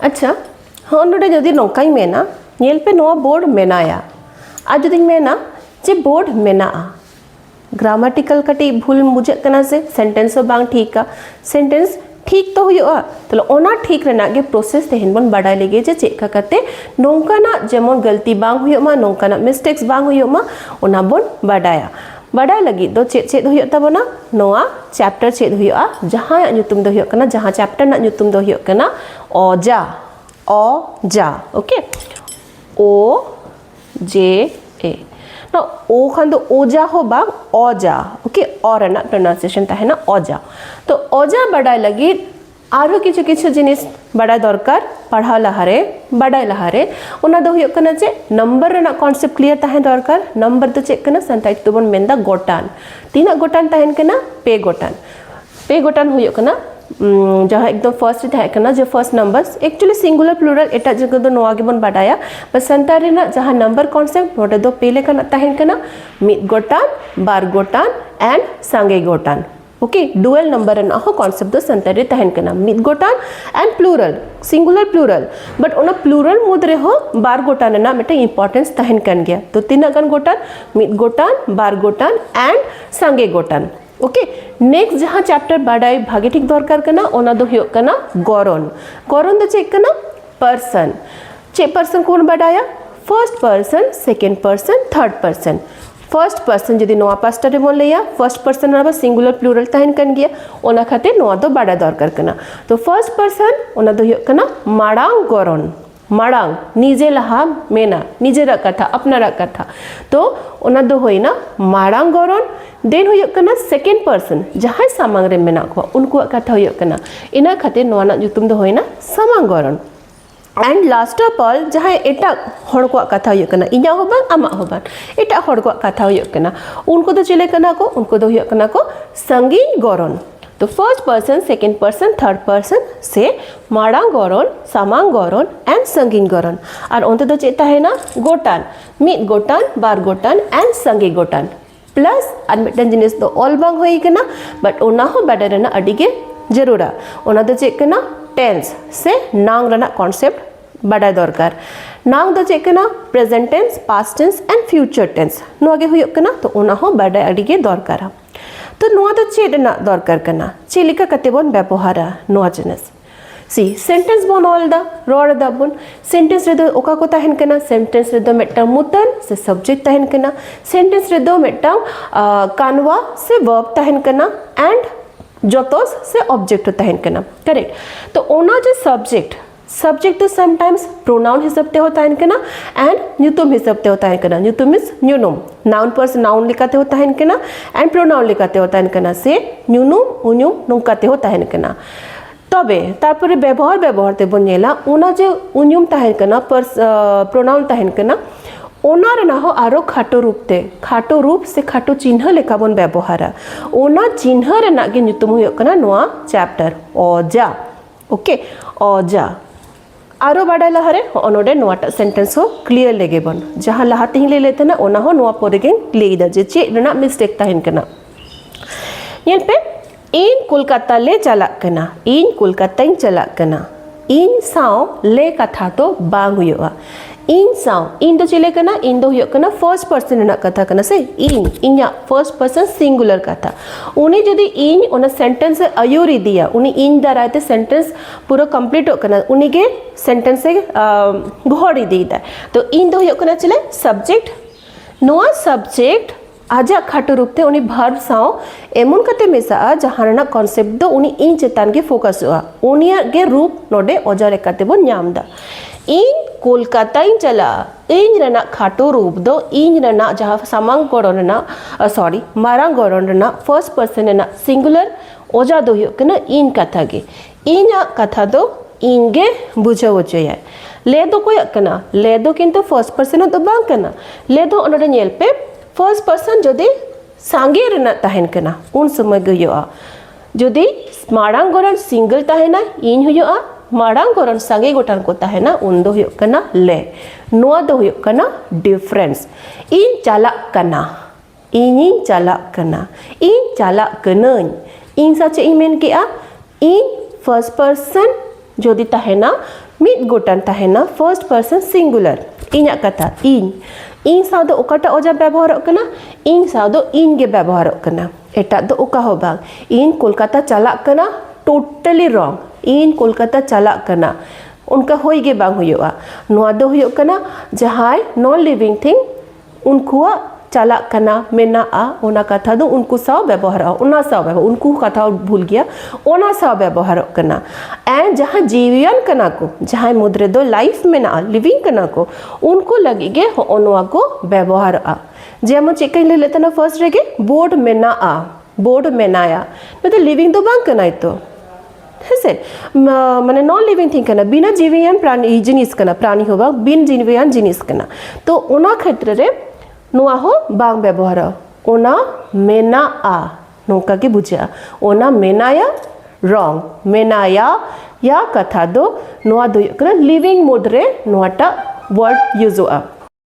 ᱟᱪᱪᱷᱟ ᱦᱚᱸ ᱱᱚᱰᱮ ᱡᱩᱫᱤ ᱱᱚᱝᱠᱟᱧ ᱢᱮᱱᱟ ᱧᱮᱞ ᱯᱮ ᱱᱚᱣᱟ ᱵᱳᱨᱰ ᱢᱮᱱᱟᱭᱟ ᱟᱨ ᱡᱩᱫᱤᱧ ᱢᱮᱱᱟ ᱡᱮ ᱵᱳᱨᱰ ᱢᱮᱱᱟᱜᱼᱟ ᱜᱨᱟᱢᱟᱴᱤᱠᱟᱞ ᱠᱟᱹᱴᱤᱡ ᱵᱷᱩᱞ ᱵᱩᱡᱷᱟᱹᱜ ᱠᱟᱱᱟ ᱥᱮ ᱥᱮᱱᱴᱮᱱᱥ ᱦᱚᱸ ᱵᱟᱝ ᱴᱷᱤᱠᱟ ᱥᱮᱱᱴᱮᱱᱥ ᱴᱷᱤᱠ ᱛᱚ ᱦᱩᱭᱩᱜᱼᱟ ᱛᱟᱦᱞᱮ ᱚᱱᱟ ᱴᱷᱤᱠ ᱨᱮᱱᱟᱜ ᱜᱮ ᱯᱨᱚᱥᱮᱥ ᱛᱮᱦᱮᱧ ᱵᱚᱱ ᱵᱟᱰᱟᱭ ᱞᱮᱜᱮ ᱡᱮ ᱪᱮᱫ ᱞᱮᱠᱟ ᱠᱟᱛᱮ ᱱᱚᱝᱠᱟᱱᱟᱜ ᱡᱮᱢᱚᱱ ᱜᱟᱹᱞᱛᱤ ᱵᱟᱝ ᱦᱩᱭᱩᱜ ᱢᱟ ᱱᱚᱝᱠᱟᱱᱟᱜ ᱢᱤᱥᱴᱮᱠᱥ ᱵᱟᱝ ᱦᱩᱭᱩᱜ ᱢᱟ ᱚᱱᱟ ᱵᱚᱱ ᱵᱟᱰᱟᱭᱟ ᱵᱟᱰᱟᱭ ᱞᱟᱹᱜᱤᱫ ᱫᱚ ᱪᱮᱫ ᱪᱮᱫ ᱦᱩᱭᱩᱜ ᱛᱟᱵᱚᱱᱟ ᱱᱚᱣᱟ ᱪᱮᱯᱴᱟᱨ ᱪᱮᱫ ᱦᱩᱭᱩᱜᱼᱟ ᱡᱟᱦᱟᱸᱭᱟᱜ ᱧᱩᱛᱩᱢ ᱫᱚ ᱦᱩᱭᱩᱜ ᱠᱟᱱᱟ ᱡᱟᱦᱟᱸ ᱪᱮᱯᱴᱟᱨ ᱨᱮᱱᱟᱜ ᱧᱩᱛᱩᱢ ᱫᱚ ᱦᱩᱭᱩᱜ ᱠᱟᱱᱟ ᱚᱡᱟ ᱚᱡᱟ ᱳᱠᱮ ᱳ ᱡᱮ ᱮ ᱱᱚᱣᱟ ᱳ ᱠᱷᱟᱱ ᱫᱚ ᱳᱡᱟ ᱦᱚᱸ ᱵᱟᱝ ᱚᱡᱟ ᱳᱠᱮ ᱚ ᱨᱮᱱᱟᱜ ᱯᱨᱚᱱᱟᱣᱩᱱᱥᱤᱭᱮᱥᱚᱱ ᱛᱟᱦᱮᱱᱟ ᱚᱡᱟ ᱛᱚ ᱚᱡᱟ ᱵᱟᱰᱟᱭ ᱞᱟᱹᱜᱤᱫ ᱟᱨᱦᱚᱸ ᱠᱤᱪᱷᱩ ᱠᱤᱪᱷᱩ ᱡᱤᱱᱤᱥ ᱵᱟᱰᱟᱭ ᱫᱚᱨᱠᱟᱨ ᱯᱟᱲᱦᱟᱣ ᱞᱟᱦᱟᱨᱮ ᱵᱟᱰᱟᱭ ᱞᱟᱦᱟᱨᱮ ᱚᱱᱟ ᱫᱚ ᱦᱩᱭᱩᱜ ᱠᱟᱱᱟ ᱪᱮᱫ ᱱᱟᱢᱵᱟᱨ ᱨᱮᱱᱟᱜ ᱠᱚᱱᱥᱮᱯᱴ ᱠᱞᱤᱭᱟᱨ ᱛᱟᱦᱮᱸ ᱫᱚᱨᱠᱟᱨ ᱱᱟᱢᱵᱟᱨ ᱫᱚ ᱪᱮᱫ ᱠᱟᱱᱟ ᱥᱟᱱᱛᱟᱲᱤ ᱛᱮᱫᱚ ᱵᱚᱱ ᱢᱮᱱᱫᱟ ᱜᱚᱴᱟᱱ ᱛᱤᱱᱟᱹᱜ ᱜᱚᱴᱟᱱ ᱛᱟᱦᱮᱱ ᱠᱟᱱᱟ ᱯᱮ ᱜᱚᱴᱟᱱ ᱯᱮ ᱜᱚᱴᱟᱱ ᱦᱩᱭᱩᱜ ᱠᱟᱱᱟ ᱡᱟᱦᱟᱸ ᱮᱠᱫᱚᱢ ᱯᱷᱟᱨᱥᱴ ᱛᱟᱦᱮᱸ ᱠᱟᱱᱟ ᱡᱮ first number actually singular plural ᱮᱴᱟᱜ ᱡᱟᱭᱜᱟ ᱫᱚ ᱱᱚᱣᱟ ᱜᱮᱵᱚᱱ ᱵᱟᱰᱟᱭᱟ ᱵᱟ ᱥᱟᱱᱛᱟᱲ ᱨᱮᱱᱟᱜ ᱡᱟᱦᱟᱸ ᱱᱟᱢᱵᱟᱨ ᱠᱚᱱᱥᱮᱯᱴ ᱱᱚᱰᱮ ᱫᱚ ᱯᱮ ᱞᱮᱠᱟᱱᱟᱜ ᱛᱟᱦᱮᱱ ᱠᱟᱱᱟ ᱢᱤᱫ ᱜᱚᱴᱟᱱ ᱵᱟᱨ ᱜᱚᱴᱟᱱ ᱮᱱᱰ ᱥᱟᱸᱜᱮ ᱜᱚᱴᱟᱱ ᱳᱠᱮ ᱰᱩᱭᱮᱞ ᱱᱟᱢᱵᱟᱨ ᱨᱮᱱᱟᱜ ᱦᱚᱸ ᱠᱚᱱᱥᱮᱯᱴ ᱫᱚ ᱥᱟᱱᱛᱟᱲ ᱨᱮ ᱛᱟᱦᱮᱱ ᱠᱟᱱᱟ ᱢᱤᱫ ᱜᱚᱴᱟᱝ and plural singular plural but ᱚᱱᱟ ᱯᱞᱩᱨᱟᱞ ᱢᱩᱫᱽ ᱨᱮᱦᱚᱸ ᱵᱟᱨ ᱜᱚᱴᱟᱝ ᱨᱮᱱᱟᱜ ᱢᱤᱫᱴᱟᱝ ᱤᱢᱯᱚᱨᱴᱮᱱᱥ ᱛᱟᱦᱮᱱ ᱠᱟᱱ ᱜᱮᱭᱟ ᱛᱚ ᱛᱤᱱᱟᱹᱜ ᱜᱟᱱ ᱜᱚᱴᱟᱝ ᱢᱤᱫ ᱜᱚᱴᱟᱝ ᱵᱟᱨ ᱜᱚᱴᱟᱝ ᱮᱱᱰ ᱥᱟᱸᱜᱮ ᱜᱚᱴᱟᱝ ᱳᱠᱮ ᱱᱮᱠᱥᱴ ᱡᱟᱦᱟᱸ ᱪᱮᱯᱴᱟᱨ ᱵᱟᱰᱟᱭ ᱵᱷᱟᱜᱮ ᱴᱷᱤᱠ ᱫᱚᱨᱠᱟᱨ ᱠᱟᱱᱟ ᱚᱱᱟ ᱫᱚ ᱦᱩᱭᱩᱜ ᱠᱟᱱᱟ ᱜᱚᱨᱚᱱ ᱜᱚᱨᱚᱱ ᱫᱚ ᱪᱮᱫ ᱠᱟᱱᱟ ᱯᱟᱨᱥᱚᱱ ᱪᱮᱫ ᱯᱟᱨᱥᱚᱱ ᱠᱚᱵᱚᱱ ᱵᱟᱰᱟᱭᱟ first person second person third person first person ᱡᱩᱫᱤ ᱱᱚᱣᱟ ᱯᱟᱥᱴᱟ ᱨᱮᱵᱚᱱ ᱞᱟᱹᱭᱟ ᱯᱷᱟᱨᱥᱴ ᱯᱟᱨᱥᱚᱱ ᱟᱨ ᱥᱤᱝᱜᱩᱞᱟᱨ ᱯᱞᱩᱨᱟᱞ ᱛᱟᱦᱮᱱ ᱠᱟᱱ ᱜᱮᱭᱟ ᱚᱱᱟ ᱠᱷᱟᱹᱛᱤᱨ ᱱᱚᱣᱟ ᱫᱚ ᱵᱟᱰᱟᱭ ᱫᱚᱨᱠᱟᱨ ᱠᱟᱱᱟ ᱛᱚ ᱯᱷᱟᱨᱥᱴ ᱯᱟᱨᱥᱚᱱ ᱚᱱᱟ ᱫᱚ ᱦᱩᱭᱩᱜ ᱠᱟᱱᱟ ᱢᱟᱲᱟᱝ ᱜᱚᱨᱚᱱ ᱢᱟᱲᱟᱝ ᱱᱤᱡᱮ ᱞᱟᱦᱟ ᱢᱮᱱᱟ ᱱᱤᱡᱮᱨᱟᱜ ᱠᱟᱛᱷᱟ ᱟᱯᱱᱟᱨᱟᱜ ᱠᱟᱛᱷᱟ ᱛᱚ ᱚᱱᱟ ᱫᱚ ᱦᱩᱭᱱᱟ ᱢᱟᱲᱟᱝ ᱜᱚᱨᱚᱱ ᱫᱮᱱ ᱦᱩᱭᱩᱜ ᱠᱟᱱᱟ ᱥᱮᱠᱮᱱᱰ ᱯᱟᱨᱥᱚᱱ ᱡᱟᱦᱟᱸᱭ ᱥᱟᱢᱟᱝ ᱨᱮ ᱢᱮᱱᱟᱜ ᱠᱚᱣᱟ ᱩᱱᱠᱩᱣᱟᱜ ᱠᱟᱛᱷᱟ ᱦᱩᱭᱩᱜ ᱠᱟᱱᱟ ᱤᱱᱟᱹ ᱠᱷᱟᱹᱛᱤᱨ ᱱᱚᱣᱟ ᱨᱮᱱᱟᱜ ᱧᱩᱛᱩᱢ ᱫᱚ ᱦᱩᱭᱱᱟ ᱥᱟᱢᱟᱝ ᱜᱚᱨᱚᱱ ᱮᱱᱰ ᱞᱟᱥᱴ ᱚᱯ ᱚᱞ ᱡᱟᱦᱟᱸᱭ ᱮᱴᱟᱜ ᱦᱚᱲ ᱠᱚᱣᱟᱜ ᱠᱟᱛᱷᱟ ᱦᱩᱭᱩᱜ ᱠᱟᱱᱟ ᱤᱧᱟᱹᱜ ᱦᱚᱸ ᱵᱟᱝ ᱟᱢᱟᱜ ᱦᱚᱸ ᱵᱟᱝ ᱮᱴᱟᱜ ᱦᱚᱲ ᱠᱚᱣᱟᱜ ᱠᱟᱛᱷᱟ ᱦᱩᱭᱩᱜ ᱠᱟᱱᱟ ᱩᱱᱠᱩ ᱫᱚ ᱪᱮᱞᱮ ᱠᱟᱱᱟ ᱠᱚ ᱩᱱᱠᱩ ᱫᱚ ᱦᱩᱭᱩᱜ ᱠᱟᱱᱟ ᱠᱚ ᱥᱟᱺᱜᱤᱧ ᱜᱚᱨᱚᱱ ᱛᱚ first person second person third person ᱥᱮ ᱢᱟᱲᱟᱝ ᱜᱚᱨᱚᱱ ᱥᱟᱢᱟᱝ ᱜᱚᱨᱚᱱ ᱮᱱᱰ ᱥᱟᱺᱜᱤᱧ ᱜᱚᱨᱚᱱ ᱟᱨ ᱚᱱᱛᱮ ᱫᱚ ᱪᱮᱫ ᱛᱟᱦᱮᱱᱟ ᱜᱚᱴᱟᱱ ᱢᱤᱫ ᱜᱚᱴᱟᱱ ᱵᱟᱨ ᱜᱚᱴᱟᱱ ᱮᱱᱰ ᱥᱟᱸᱜᱮ ᱜᱚᱴᱟᱱ ᱯᱞᱟᱥ ᱟᱨ ᱢᱤᱫᱴᱟᱝ ᱡᱤᱱᱤᱥ ᱫᱚ ᱚᱞ ᱵᱟᱝ ᱦᱩᱭ ᱠᱟᱱᱟ ᱵᱟᱴ ᱚᱱᱟ ᱦᱚᱸ ᱵᱟᱰᱟᱭ ᱨᱮᱱᱟᱜ ᱟᱹᱰᱤ ᱜᱮ ᱡᱟᱹᱨᱩᱲᱟ ᱚᱱᱟ ᱫᱚ ᱪᱮᱫ ᱠᱟᱱᱟ ᱴᱮᱱᱥ ᱥᱮ ᱱᱟᱝ ᱨᱮᱱᱟᱜ ᱠᱚᱱᱥᱮᱯᱴ ᱵᱟᱰᱟᱭ ᱫᱚᱨᱠᱟᱨ ᱱᱟᱝ ᱫᱚ ᱪᱮᱫ ᱠᱟᱱᱟ present tense past tense and future tense ᱱᱚᱣᱟ ᱜᱮ ᱦᱩᱭᱩᱜ ᱠᱟᱱᱟ ᱛᱚ ᱚᱱᱟ ᱦᱚᱸ ᱵᱟᱰᱟᱭ ᱟᱹᱰᱤ ᱜᱮ ᱫᱚᱨᱠᱟᱨᱟ ᱛᱚ ᱱᱚᱣᱟ ᱫᱚ ᱪᱮᱫ ᱨᱮᱱᱟᱜ ᱫᱚᱨᱠᱟᱨ ᱠᱟᱱᱟ ᱪᱮᱫ ᱞᱮᱠᱟ ᱠᱟᱛᱮ ᱵᱚᱱ ᱵᱮᱵᱚᱦᱟᱨᱟ ᱱᱚᱣᱟ ᱡᱤᱱᱤᱥ ᱥᱤ ᱥᱮᱱᱴᱮᱱᱥ ᱵᱚᱱ ᱚᱞ ᱮᱫᱟ ᱨᱚᱲ ᱮᱫᱟ ᱵᱚᱱ ᱥᱮᱱᱴᱮᱱᱥ ᱨᱮᱫᱚ ᱚᱠᱟ ᱠᱚ ᱛᱟᱦᱮᱱ ᱠᱟᱱᱟ ᱥᱮᱱᱴᱮᱱᱥ ᱨᱮᱫᱚ ᱢᱤᱫᱴᱟᱝ ᱢᱩᱛᱟᱹᱱ ᱥᱮ ᱥᱟᱵᱡᱮᱠᱴ ᱛᱟᱦᱮᱱ ᱠᱟᱱᱟ ᱥᱮᱱᱴᱮᱱᱥ ᱨᱮᱫᱚ ᱢᱤᱫᱴᱟᱝ ᱠᱟᱱᱣᱟ ᱥᱮ ᱵᱚᱵ ᱛᱟᱦᱮᱱ ᱠᱟᱱᱟ ᱮᱱᱰ ᱡᱚᱛᱚᱥ ᱥᱮ ᱚᱵᱡᱮᱠᱴ ᱦᱚᱸ ᱛᱟᱦᱮᱱ ᱠᱟᱱᱟ ᱠᱟᱨᱮᱠᱴ ᱛᱚ ᱚᱱᱟ ᱡᱮ ᱥᱟᱵᱡᱮᱠᱴ ᱥᱟᱵᱡᱮᱠᱴ ᱫᱚ ᱥᱟᱢᱴᱟᱭᱢᱥ ᱯᱨᱳᱱᱟᱣᱩᱱ ᱦᱤᱥᱟᱹᱵ ᱛᱮᱦᱚᱸ ᱛᱟᱦᱮᱱ ᱠᱟᱱᱟ ᱮᱱᱰ ᱧᱩᱛᱩᱢ ᱦᱤᱥᱟᱹᱵ ᱛᱮᱦᱚᱸ ᱛᱟᱦᱮᱱ ᱠᱟᱱᱟ ᱧᱩᱛᱩᱢ ᱢᱤᱱᱥ ᱧᱩᱱᱩᱢ ᱱᱟᱣᱩᱱ ᱯᱟᱨᱥ ᱱᱟᱣᱩᱱ ᱞᱮᱠᱟ ᱛᱮᱦᱚᱸ ᱛᱟᱦᱮᱱ ᱠᱟᱱᱟ ᱮᱱᱰ ᱯᱨᱳᱱᱟᱣᱩᱱ ᱞᱮᱠᱟ ᱛᱮᱦᱚᱸ ᱛᱟᱦᱮᱱ ᱠᱟᱱᱟ ᱥᱮ ᱧᱩᱱᱩᱢ ᱩᱧᱩᱢ ᱱᱚᱝᱠᱟ ᱛᱮᱦᱚᱸ ᱛᱟᱦᱮᱱ ᱠᱟᱱᱟ ᱛᱚᱵᱮ ᱛᱟᱨᱯᱚᱨᱮ ᱵᱮᱵᱚᱦᱟᱨ ᱵᱮᱵᱚᱦᱟᱨ ᱛᱮᱵᱚᱱ ᱧᱮᱞᱟ ᱚᱱᱟ ᱡᱮ ᱩᱧᱩᱢ ᱛᱟᱦᱮᱱ ᱠᱟᱱᱟ ᱯᱟᱨᱥ ᱯᱨᱚᱱᱟᱣᱩᱱ ᱛᱟᱦᱮᱱ ᱠᱟᱱᱟ ᱚᱱᱟ ᱨᱮᱱᱟᱜ ᱦᱚᱸ ᱟᱨᱚ ᱠᱷᱟᱴᱚ ᱨᱩᱯ ᱛᱮ ᱠᱷᱟᱴᱚ ᱨᱩᱯ ᱥᱮ ᱠᱷᱟᱴᱚ ᱪᱤᱱᱦᱟᱹ ᱞᱮᱠᱟ ᱵᱚᱱ ᱵᱮᱵᱚᱦᱟᱨᱟ ᱚᱱᱟ ᱪᱤᱱᱦᱟᱹ ᱨᱮᱱᱟᱜ ᱜᱮ ᱧᱩᱛᱩᱢ ᱦᱩᱭᱩᱜ ᱠᱟᱱᱟ ᱱᱚᱣᱟ ᱪᱮᱯᱴᱟᱨ ᱚᱡᱟ ᱳᱠᱮ ᱚᱡᱟ ᱟᱨᱚ ᱵᱟᱰᱟᱭ ᱞᱟᱦᱟᱨᱮ ᱦᱚᱸᱜᱼᱚ ᱱᱚᱰᱮ ᱱᱚᱣᱟᱴᱟᱜ ᱥᱮᱱᱴᱮᱱᱥ ᱦᱚᱸ ᱠᱞᱤᱭᱟᱨ ᱞᱮᱜᱮ ᱵᱚᱱ ᱡᱟᱦᱟᱸ ᱞᱟᱦᱟ ᱛᱮᱦᱤᱧ ᱞᱟᱹᱭ ᱞᱮᱫ ᱛᱟᱦᱮᱱᱟ ᱚᱱᱟ ᱦᱚᱸ ᱱᱚᱣᱟ ᱯᱚᱨᱮ ᱜᱮᱧ ᱞᱟᱹᱭᱫᱟ ᱡᱮ ᱪᱮᱫ ᱨᱮᱱᱟᱜ ᱢᱤᱥᱴᱮᱠ ᱛᱟᱦᱮᱱ ᱠᱟᱱᱟ ᱧᱮᱞ ᱯᱮ ᱤᱧ ᱠᱳᱞᱠᱟᱛᱟ ᱞᱮ ᱪᱟᱞᱟᱜ ᱠᱟᱱᱟ ᱤᱧ ᱠᱳᱞᱠᱟᱛᱟᱧ ᱪᱟᱞᱟᱜ ᱠᱟᱱᱟ ᱤᱧ ᱥᱟᱶ ᱞᱮ ᱠᱟᱛᱷᱟ ᱫᱚ ᱵᱟᱝ ᱦᱩᱭᱩᱜᱼᱟ ᱤᱧ ᱥᱟᱶ ᱤᱧ ᱫᱚ ᱪᱮᱞᱮ ᱠᱟᱱᱟ ᱤᱧ ᱫᱚ ᱦᱩᱭᱩᱜ ᱠᱟᱱᱟ ᱯᱷᱟᱨᱥᱴ ᱯᱟᱨᱥᱚᱱ ᱨᱮᱱᱟᱜ ᱠᱟᱛᱷᱟ ᱠᱟᱱᱟ ᱥᱮ ᱤᱧ ᱤᱧᱟᱹᱜ ᱯᱷᱟᱨᱥᱴ ᱯᱟᱨᱥᱚᱱ ᱥᱤᱝᱜᱩᱞᱟᱨ ᱠᱟᱛᱷᱟ ᱩᱱᱤ ᱡᱩᱫᱤ ᱤᱧ ᱚᱱᱟ ᱥᱮᱱᱴᱮᱱᱥ ᱮ ᱟᱹᱭᱩᱨ ᱤᱫᱤᱭᱟ ᱩᱱᱤ ᱤᱧ ᱫᱟᱨᱟᱭ ᱛᱮ ᱥᱮᱱᱴᱮᱱᱥ ᱯᱩᱨᱟᱹ ᱠᱚᱢᱯᱞᱤᱴᱚᱜ ᱠᱟᱱᱟ ᱩᱱᱤᱜᱮ ᱥᱮᱱᱴᱮᱱᱥ ᱮ ᱜᱚᱦᱚᱲ ᱤᱫᱤᱭᱮᱫᱟ ᱛᱚ ᱤᱧ ᱫᱚ ᱦᱩᱭᱩᱜ ᱠᱟᱱᱟ ᱪᱮᱞᱮ ᱥᱟᱵᱡᱮᱠᱴ ᱱᱚᱣᱟ ᱥᱟᱵᱡᱮᱠᱴ ᱟᱡᱟᱜ ᱠᱷᱟᱴᱚ ᱨᱩᱯ ᱛᱮ ᱩᱱᱤ ᱵᱷᱟᱨᱵ ᱥᱟᱶ ᱮᱢᱚᱱ ᱠᱟᱛᱮ ᱢᱮᱥᱟᱜᱼᱟ ᱡᱟᱦᱟᱸ ᱨᱮᱱᱟᱜ ᱠᱚᱱᱥᱮᱯᱴ ᱫᱚ ᱩᱱᱤ ᱤᱧ ᱪᱮᱛᱟᱱ ᱜᱮ ᱯᱷᱳᱠᱟᱥᱚᱜᱼᱟ ᱩᱱᱤᱭᱟᱜ ᱜᱮ ᱨᱩᱯ ᱱᱚᱰᱮ ᱚᱡᱟ ᱞᱮᱠᱟᱛᱮ ᱵᱚᱱ ᱧᱟᱢ ᱮᱫᱟ ᱤᱧ ᱠᱳᱞᱠᱟᱛᱟᱧ ᱪᱟᱞᱟᱜᱼᱟ ᱤᱧ ᱨᱮᱱᱟᱜ ᱠᱷᱟᱴᱚ ᱨᱩᱯ ᱫᱚ ᱤᱧ ᱨᱮᱱᱟᱜ ᱡᱟᱦᱟᱸ ᱥᱟᱢᱟᱝ ᱜᱚᱲᱚᱱ ᱨᱮᱱᱟᱜ ᱥᱚᱨᱤ ᱢᱟᱨᱟᱝ ᱜᱚᱲᱚᱱ ᱨᱮᱱᱟᱜ ᱯᱷᱟᱨᱥᱴ ᱯᱟᱨᱥᱚᱱ ᱨᱮᱱᱟᱜ ᱥᱤᱝᱜᱩᱞᱟᱨ ᱚᱡᱟ ᱫᱚ ᱦᱩᱭᱩᱜ ᱠᱟᱱᱟ ᱤᱧ ᱠᱟᱛᱷᱟ ᱜᱮ ᱤᱧᱟᱜ ᱠᱟᱛᱷᱟ ᱫᱚ ᱤᱧ ᱜᱮ ᱵᱩᱡᱷᱟᱹᱣ ᱦᱚᱪᱚᱭᱟᱭ ᱞᱮ ᱫᱚ ᱚᱠᱚᱭᱟᱜ ᱠᱟᱱᱟ ᱞᱮ ᱫᱚ ᱠᱤᱱᱛᱩ ᱯᱷᱟᱨᱥᱴ ᱯᱟᱨᱥᱚᱱ ᱫᱚ ᱵᱟᱝ ᱠᱟᱱᱟ ᱞᱮ ᱫᱚ ᱚᱱᱚᱰᱮ ᱧᱮᱞ ᱯᱮ ᱯᱷᱟᱨᱥᱴ ᱯᱟᱨᱥᱚᱱ ᱡᱩᱫᱤ ᱥᱟᱸᱜᱮ ᱨᱮᱱᱟᱜ ᱛᱟᱦᱮᱱ ᱠᱟᱱᱟ ᱩᱱ ᱥᱚᱢᱚᱭ ᱜᱮ ᱦᱩᱭᱩᱜᱼᱟ ᱡᱩᱫᱤ ᱢᱟᱲᱟᱝ ᱜᱚᱨᱚᱱ ᱥᱤᱝᱜᱮᱞ ᱛᱟᱦᱮᱱᱟ ᱤᱧ ᱦᱩᱭᱩᱜᱼᱟ ᱢᱟᱲᱟᱝ ᱜᱚᱨᱚᱱ ᱥᱟᱸᱜᱮ ᱜᱚᱴᱟᱱ ᱠᱚ ᱛᱟᱦᱮᱱᱟ ᱩᱱ ᱫᱚ ᱦᱩᱭᱩᱜ ᱠᱟᱱᱟ ᱞᱮ ᱱᱚᱣᱟ ᱫᱚ ᱦᱩᱭᱩᱜ ᱠᱟᱱᱟ ᱰᱤᱯᱷᱟᱨᱮᱱᱥ ᱤᱧ ᱪᱟᱞᱟᱜ ᱠᱟᱱᱟ ᱤᱧᱤᱧ ᱪᱟᱞᱟᱜ ᱠᱟᱱᱟ ᱤᱧ ᱪᱟᱞᱟᱜ ᱠᱟᱹᱱᱟᱹᱧ ᱤᱧ ᱥᱟᱶ ᱪᱮᱫ ᱤᱧ ᱢᱮᱱ ᱠᱮᱜᱼᱟ ᱤᱧ ᱯᱷᱟᱨᱥᱴ ᱯᱟᱨᱥᱚᱱ ᱡᱩᱫᱤ ᱛᱟᱦᱮᱱᱟ ᱢᱤᱫ ᱜᱚᱴᱟᱝ ᱛᱟᱦᱮᱱᱟ ᱯᱷᱟᱨᱥᱴ ᱯᱟᱨᱥᱚᱱ ᱥᱤᱝᱜᱩᱞᱟᱨ ᱤᱧᱟᱹᱜ ᱠᱟᱛᱷᱟ ᱤᱧ ᱤᱧ ᱥᱟᱶ ᱫᱚ ᱚᱠᱟᱴᱟᱜ ᱚᱡᱟ ᱵᱮᱵᱚᱦᱟᱨᱚᱜ ᱠᱟᱱᱟ ᱤᱧ ᱥᱟᱶ ᱫᱚ ᱤᱧ ᱜᱮ ᱵᱮᱵᱚᱦᱟᱨᱚᱜ ᱠᱟᱱᱟ ᱮᱴᱟᱜ ᱫᱚ ᱚᱠᱟ ᱦᱚᱸ ᱵᱟᱝ ᱤᱧ ᱠᱳᱞᱠᱟᱛᱟ ᱪᱟᱞᱟᱜ ᱠᱟᱱᱟ ᱴᱳᱴᱟᱞᱤ ᱨᱚᱝ ᱤᱧ ᱠᱳᱞᱠᱟᱛᱟ ᱪᱟᱞᱟᱜ ᱠᱟᱱᱟ ᱚᱱᱠᱟ ᱦᱩᱭ ᱜᱮ ᱵᱟᱝ ᱦᱩᱭᱩᱜᱼᱟ ᱱᱚᱣᱟ ᱫᱚ ᱦᱩᱭᱩᱜ ᱠᱟᱱᱟ ᱡᱟᱦᱟᱸᱭ ᱱᱚᱱ ᱞᱤᱵᱷᱤᱝ ᱛᱷᱤᱝ ᱩᱱᱠᱩᱣᱟᱜ ᱪᱟᱞᱟᱜ ᱠᱟᱱᱟ ᱢᱮᱱᱟᱜᱼᱟ ᱚᱱᱟ ᱠᱟᱛᱷᱟ ᱫᱚ ᱩᱱᱠᱩ ᱥᱟᱶ ᱵᱮᱵᱚᱦᱟᱨᱚᱜᱼᱟ ᱚᱱᱟ ᱥᱟᱶ ᱵᱮᱵᱚᱦᱟᱨ ᱩᱱᱠᱩ ᱠᱟᱛᱷᱟ ᱵᱷᱩᱞ ᱜᱮᱭᱟ ᱚᱱᱟ ᱥᱟᱶ ᱵᱮᱵᱚᱦᱟᱨᱚᱜ ᱠᱟᱱᱟ ᱮᱱᱰ ᱡᱟᱦᱟᱸ ᱡᱤᱣᱤᱭᱟᱱ ᱠᱟᱱᱟ ᱠᱚ ᱡᱟᱦᱟᱸᱭ ᱢᱩᱫᱽ ᱨᱮᱫᱚ ᱞᱟᱭᱤᱯᱷ ᱢᱮᱱᱟᱜᱼᱟ ᱞᱤᱵᱷᱤᱝ ᱠᱟᱱᱟ ᱠᱚ ᱩᱱᱠᱩ ᱞᱟᱹᱜᱤᱫ ᱜᱮ ᱦᱚᱸᱜᱼᱚ ᱱᱚᱣᱟ ᱠᱚ ᱵᱮᱵᱚᱦᱟᱨᱚᱜᱼᱟ ᱡᱮᱢᱚᱱ ᱪᱮᱫ ᱠᱟᱹᱧ ᱞᱟᱹᱭ ᱞᱮᱫ ᱛᱟᱦᱮᱱᱟ ᱯᱷᱟᱨᱥᱴ ᱨᱮᱜᱮ ᱵᱳᱨᱰ ᱢᱮᱱᱟᱜᱼᱟ ᱵᱳᱨᱰ ᱢᱮᱱᱟᱭᱟ ᱱᱩᱭ ᱫᱚ ᱞᱤᱵᱷᱤᱝ ᱫᱚ ᱵᱟᱝ ᱠᱟᱱᱟᱭ ᱛᱚ ᱦᱮᱸᱥᱮ ᱢᱟᱱᱮ ᱱᱚᱱ ᱞᱤᱵᱷᱤᱝ ᱛᱷᱤᱝ ᱠᱟᱱᱟ ᱵᱤᱱᱟ ᱡᱤᱵᱤᱭᱟᱱ ᱯᱨᱟᱱᱤ ᱡᱤᱱᱤᱥ ᱠᱟᱱᱟ ᱯᱨᱟᱱᱤ ᱦᱚᱸ ᱵᱟᱝ ᱵᱤᱱ ᱡᱤᱵᱤᱭᱟᱱ ᱡᱤᱱᱤᱥ ᱠᱟᱱᱟ ᱛᱚ ᱚᱱᱟ ᱠᱷᱮᱛᱨᱮ ᱨᱮ ᱱᱚᱣᱟ ᱦᱚᱸ ᱵᱟᱝ ᱵᱮᱵᱚᱦᱟᱨᱟ ᱚᱱᱟ ᱢᱮᱱᱟᱜᱼᱟ ᱱᱚᱝᱠᱟ ᱜᱮ ᱵᱩᱡᱷᱟᱹᱜᱼᱟ ᱚᱱᱟ ᱢᱮᱱᱟᱭᱟ ᱨᱚᱝ ᱢᱮᱱᱟᱭᱟ ᱭᱟ ᱠᱟᱛᱷᱟ ᱫᱚ ᱱᱚᱣᱟ ᱫᱚ ᱦᱩᱭᱩᱜ ᱠᱟᱱᱟ ᱞᱤᱵᱷᱤᱝ ᱢᱳᱰ ᱨᱮ ᱱᱚᱣᱟᱴᱟᱜ ᱣᱟᱨᱰ ᱤᱭᱩᱡᱚᱜᱼᱟ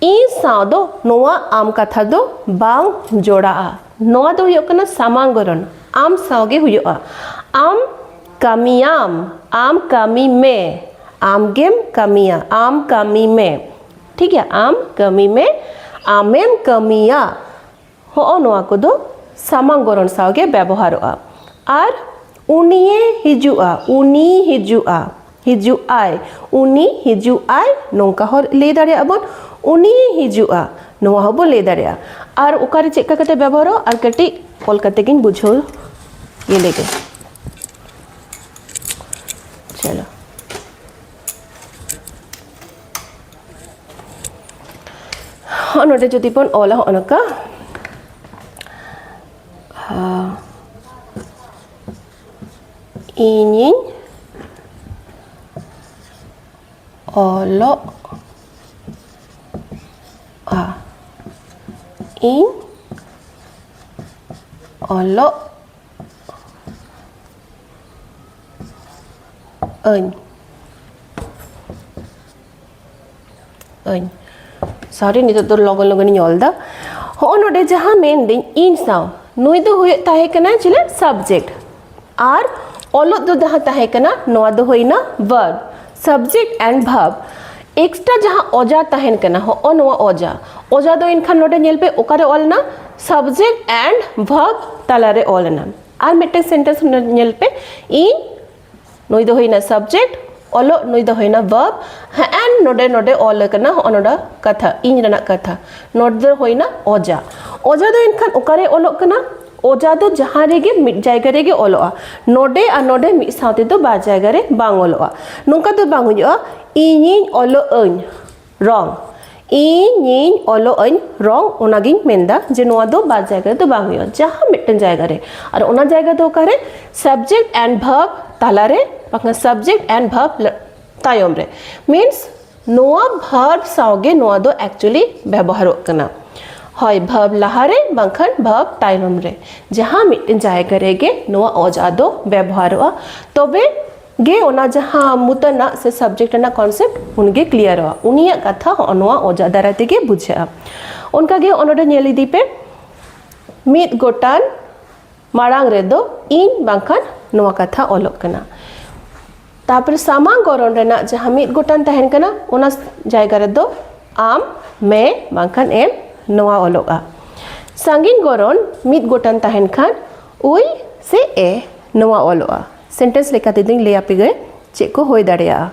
ᱤᱧ ᱥᱟᱶ ᱫᱚ ᱱᱚᱣᱟ ᱟᱢ ᱠᱟᱛᱷᱟ ᱫᱚ ᱵᱟᱝ ᱡᱚᱲᱟᱜᱼᱟ ᱱᱚᱣᱟ ᱫᱚ ᱦᱩᱭᱩᱜ ᱠᱟᱱᱟ ᱥᱟᱢᱟᱝ ᱜᱚᱨᱚᱱ ᱟᱢ ᱥᱟᱶ ᱜᱮ ᱦᱩᱭᱩᱜᱼᱟ ᱟᱢ ᱠᱟᱹᱢᱤᱭᱟᱢ ᱟᱢ ᱠᱟᱹᱢᱤ ᱢᱮ ᱟᱢ ᱜᱮᱢ ᱠᱟᱹᱢᱤᱭᱟ ᱟᱢ ᱠᱟᱹᱢᱤ ᱢᱮ ᱴᱷᱤᱠ ᱜᱮᱭᱟ ᱟᱢ ᱠᱟᱹᱢᱤ ᱢᱮ ᱟᱢᱮᱢ ᱠᱟᱹᱢᱤᱭᱟ ᱦᱚᱸᱜᱼᱚ ᱱᱚᱣᱟ ᱠᱚᱫᱚ ᱥᱟᱢᱟᱝ ᱜᱚᱨᱚᱱ ᱥᱟᱶᱜᱮ ᱵᱮᱵᱚᱦᱟᱨᱚᱜᱼᱟ ᱟᱨ ᱩᱱᱤᱭᱮ ᱦᱤᱡᱩᱜᱼᱟ ᱩᱱᱤ ᱦᱤᱡᱩᱜᱼᱟ ᱦᱤᱡᱩᱜ ᱟᱭ ᱩᱱᱤ ᱦᱤᱡᱩᱜ ᱟᱭ ᱱᱚᱝᱠᱟ ᱦᱚᱸ ᱞᱟᱹᱭ ᱫᱟᱲᱮᱭᱟᱜᱼᱟ ᱵᱚᱱ ᱩᱱᱤᱭᱮ ᱦᱤᱡᱩᱜᱼᱟ ᱱᱚᱣᱟ ᱦᱚᱸᱵᱚ ᱞᱟᱹᱭ ᱫᱟᱲᱮᱭᱟᱜᱼᱟ ᱟᱨ ᱚᱠᱟᱨᱮ ᱪᱮᱫ ᱠᱟᱛᱮ ᱵᱮᱵᱚᱦᱟᱨᱚᱜᱼᱟ ᱟᱨ ᱠᱟᱹᱴᱤᱡ ᱚᱞ ᱠᱟᱛᱮ ᱜᱤᱧ ᱵᱩᱡᱷᱟᱹᱣ ᱤᱭᱟᱹ ᱞᱮᱜᱮ ᱪᱚᱞᱚ ᱦᱚᱸᱜᱼᱚ ᱱᱚᱰᱮ ᱡᱩᱫᱤ ᱵᱚᱱ ᱚᱞᱟ ᱦᱚᱸᱜᱼᱚ ᱱᱚᱝᱠᱟ ᱤᱧᱤᱧ ᱚᱞᱚᱜᱼᱟ ᱤᱧ ᱚᱞᱚᱜ ᱟᱹᱧ ᱟᱹᱧ ᱥᱚᱨᱤ ᱱᱤᱛᱚᱜ ᱫᱚ ᱞᱚᱜᱚᱱ ᱞᱚᱜᱚᱱᱤᱧ ᱚᱞ ᱫᱟ ᱦᱚᱸᱜᱼᱚ ᱱᱚᱰᱮ ᱡᱟᱦᱟᱸ ᱢᱮᱱᱫᱟᱹᱧ ᱤᱧ ᱥᱟᱶ ᱱᱩᱭ ᱫᱚ ᱦᱩᱭᱩᱜ ᱛᱟᱦᱮᱸ ᱠᱟᱱᱟ ᱪᱮᱞᱮ ᱥᱟᱵᱡᱮᱠᱴ ᱟᱨ ᱚᱞᱚᱜ ᱫᱚ ᱡᱟᱦᱟᱸ ᱛᱟᱦᱮᱸ ᱠᱟᱱᱟ ᱱᱚᱣᱟ ᱫᱚ ᱦᱩᱭᱱᱟ verb subject and verb extra ᱡᱟᱦᱟᱸ ᱚᱡᱟ ᱛᱟᱦᱮᱱ ᱠᱟᱱᱟ ᱦᱚᱸᱜᱼᱚ ᱱᱚᱣᱟ ᱚᱡᱟ ᱚᱡᱟ ᱫᱚ ᱮᱱᱠᱷᱟᱱ ᱱᱚᱰᱮ ᱧᱮᱞ ᱯᱮ ᱚᱠᱟᱨᱮ ᱚᱞᱱᱟ ᱥᱟᱵᱡᱮᱠᱴ ᱮᱱᱰ ᱵᱷᱟᱨᱵ ᱛᱟᱞᱟᱨᱮ ᱚᱞᱱᱟ ᱟᱨ ᱢᱤᱫᱴᱮᱱ ᱥᱮᱱᱴᱮᱱᱥ ᱧᱮᱞ ᱯᱮ ᱤᱧ ᱱᱩᱭ ᱫᱚ ᱦᱩᱭᱱᱟ ᱥᱟᱵᱡᱮᱠᱴ ᱚᱞᱚᱜ ᱱᱩᱭ ᱫᱚ ᱦᱩᱭᱱᱟ ᱵᱟᱵ ᱦᱮᱸ ᱱᱚᱰᱮ ᱱᱚᱰᱮ ᱚᱞ ᱟᱠᱟᱱᱟ ᱦᱚᱸᱜᱼᱚ ᱱᱚᱰᱮ ᱠᱟᱛᱷᱟ ᱤᱧ ᱨᱮᱱᱟᱜ ᱠᱟᱛᱷᱟ ᱱᱚᱰᱮ ᱫᱚ ᱦᱩᱭᱱᱟ ᱚᱡᱟ ᱚᱡᱟ ᱫᱚ ᱮᱱᱠᱷᱟᱱ ᱚᱠᱟᱨᱮ ᱚᱞᱚᱜ ᱠᱟᱱᱟ ᱚᱡᱟ ᱫᱚ ᱡᱟᱦᱟᱸ ᱨᱮᱜᱮ ᱢᱤᱫ ᱡᱟᱭᱜᱟ ᱨᱮᱜᱮ ᱚᱞᱚᱜᱼᱟ ᱱᱚᱰᱮ ᱟᱨ ᱱᱚᱰᱮ ᱢᱤᱫ ᱥᱟᱶ ᱛᱮᱫᱚ ᱵᱟᱨ ᱡᱟᱭᱜᱟ ᱨᱮ ᱵᱟᱝ ᱚᱞᱚᱜᱼᱟ ᱱᱚᱝᱠᱟ ᱫᱚ ᱵᱟᱝ ᱦᱩᱭᱩᱜᱼᱟ ᱤᱧᱤᱧ ᱚᱞᱚᱜ ᱟᱹᱧ ᱨᱚᱝ ᱤᱧ ᱤᱧ ᱚᱞᱚᱜ ᱟᱹᱧ ᱨᱚᱝ ᱚᱱᱟᱜᱤᱧ ᱢᱮᱱᱫᱟ ᱡᱮ ᱱᱚᱣᱟ ᱫᱚ ᱵᱟᱨ ᱡᱟᱭᱜᱟ ᱨᱮᱫᱚ ᱵᱟᱝ ᱦᱩᱭᱩᱜᱼᱟ ᱡᱟᱦᱟᱸ ᱢᱤᱫᱴᱮᱱ ᱡᱟᱭᱜᱟ ᱨᱮ ᱟᱨ ᱚᱱᱟ ᱡᱟᱭᱜᱟ ᱫᱚ ᱚᱠᱟᱨᱮ ᱥᱟᱵᱡᱮᱠᱴ ᱮᱱᱰ ᱵᱷᱟᱨᱵ ᱛᱟᱞᱟᱨᱮ ᱵᱟᱠᱷᱟᱱ ᱥᱟᱵᱡᱮᱠᱴ ᱮᱱᱰ ᱵᱷᱟᱨᱵ ᱛᱟᱭᱚᱢ ᱨᱮ ᱢᱤᱱᱥ ᱱᱚᱣᱟ ᱵᱷᱟᱨᱵ ᱥᱟᱶᱜᱮ ᱱᱚᱣᱟ ᱫᱚ ᱮᱠᱪᱩᱭᱮᱞᱤ ᱵᱮᱵᱚᱦᱟᱨᱚᱜ ᱠᱟᱱᱟ ᱦᱳᱭ ᱵᱷᱟᱨᱵ ᱞᱟᱦᱟᱨᱮ ᱵᱟᱝᱠᱷᱟᱱ ᱵᱷᱟᱨᱵ ᱛᱟᱭᱚᱢ ᱨᱮ ᱡᱟᱦᱟᱸ ᱢᱤᱫᱴᱮᱱ ᱡᱟᱭᱜᱟ ᱨᱮᱜᱮ ᱱᱚᱣᱟ ᱚᱡᱟ ᱫᱚ ᱵᱮᱵᱚᱦᱟᱨᱚᱜᱼᱟ ᱛᱚᱵᱮ ᱜᱮ ᱚᱱᱟ ᱡᱟᱦᱟᱸ ᱢᱩᱛᱟᱱᱟᱜ ᱥᱮ ᱥᱟᱵᱡᱮᱠᱴ ᱨᱮᱱᱟᱜ ᱠᱚᱱᱥᱮᱯᱴ ᱩᱱᱜᱮ ᱠᱞᱤᱭᱟᱨᱚᱜᱼᱟ ᱩᱱᱤᱭᱟᱜ ᱠᱟᱛᱷᱟ ᱦᱚᱸ ᱱᱚᱣᱟ ᱚᱡᱟ ᱫᱟᱨᱟᱭ ᱛᱮᱜᱮ ᱵᱩᱡᱷᱟᱹᱜᱼᱟ ᱚᱱᱠᱟᱜᱮ ᱚᱱᱚᱰᱮ ᱧᱮᱞ ᱤᱫᱤ ᱯᱮ ᱢᱤᱫ ᱜᱚᱴᱟᱱ ᱢᱟᱲᱟᱝ ᱨᱮᱫᱚ ᱤᱧ ᱵᱟᱝᱠᱷᱟᱱ ᱱᱚᱣᱟ ᱠᱟᱛᱷᱟ ᱚᱞᱚᱜ ᱠᱟᱱᱟ ᱛᱟᱯᱚᱨᱮ ᱥᱟᱢᱟᱝ ᱜᱚᱨᱚᱱ ᱨᱮᱱᱟᱜ ᱡᱟᱦᱟᱸ ᱢᱤᱫ ᱜᱚᱴᱟᱱ ᱛᱟᱦᱮᱱ ᱠᱟᱱᱟ ᱚᱱᱟ ᱡᱟᱭᱜᱟ ᱨᱮᱫᱚ ᱟᱢ ᱢᱮ ᱵᱟᱝᱠᱷᱟᱱ ᱮᱢ ᱱᱚᱣᱟ ᱚᱞᱚᱜᱼᱟ ᱥᱟᱺᱜᱤᱧ ᱜᱚᱨᱚᱱ ᱢᱤᱫ ᱜᱚᱴᱟᱱ ᱛᱟᱦᱮᱱ ᱠᱷᱟᱱ ᱩᱭ ᱥᱮ ᱮ ᱱᱚᱣᱟ ᱚᱞᱚᱜᱼᱟ ᱥᱮᱱᱴᱮᱱᱥ ᱞᱮᱠᱟ ᱛᱮᱫᱚᱧ ᱞᱟᱹᱭ ᱟᱯᱮ ᱜᱮ ᱪᱮᱫ ᱠᱚ ᱦᱩᱭ ᱫᱟᱲᱮᱭᱟᱜᱼᱟ